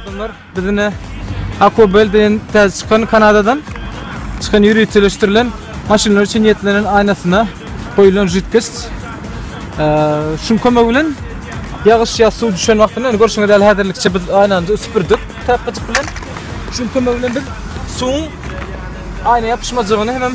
Adamlar bizine Akobel deýen täze çykan Kanadadan çykan ýöriteleşdirilen maşynlar üçin niýetlenen aýnasyna goýulan jidkes. Şuň kömegi bilen ýagyş ýa suw düşen wagtynda görşüňiz ýaly häzirlikçe biz aýnany süpürdik tapgyjyk bilen. Şuň kömegi bilen biz suwuň aýna ýapyşmajagyny hem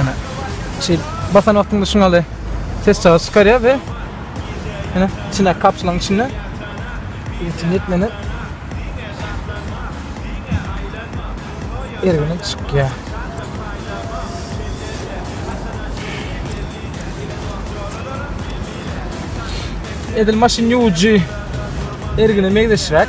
Ana. Şeýle basan wagtyňda şuňa ýaly ses çykyş çykarýar we ana içine kapsulaň içinde ýetim ýetmene ergine çykýar. Edil maşyn ýuwujy ergine meňzeşräk.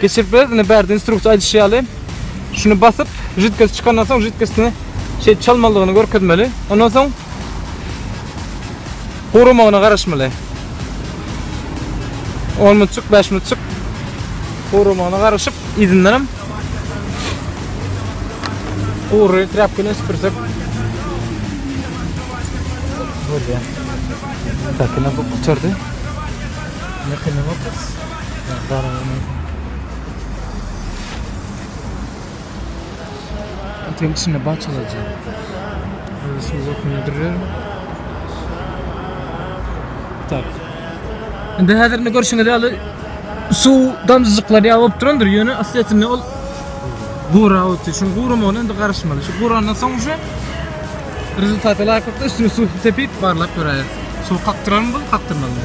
Geçirip bileris indi bärde instruksiýa aýdyşy ýaly. Şuny basyp, jidkesi çykandan soň jidkesini şeýdip çalmalydygyny görkezmeli. Ondan soň guramagyna garaşmaly. 10 minutjyk, 5 minutjyk guramagyna garaşyp, yzyndanam gury trapka bilen süpürsek bolýar. Takina bu gutardy. Nakina Indi häzir indi görşüňiz ýaly suw damjajyklary ýagyp durandyr, ýöne asliyetinde ol gurap otdy. Şuň guramagyna indi garaşmaly. Şu gurandan soň uje rezultata laýyklykda üstüne suw sepip barlap göräýeris. Suw kakdyrarmy bu, kakdyrmazmy?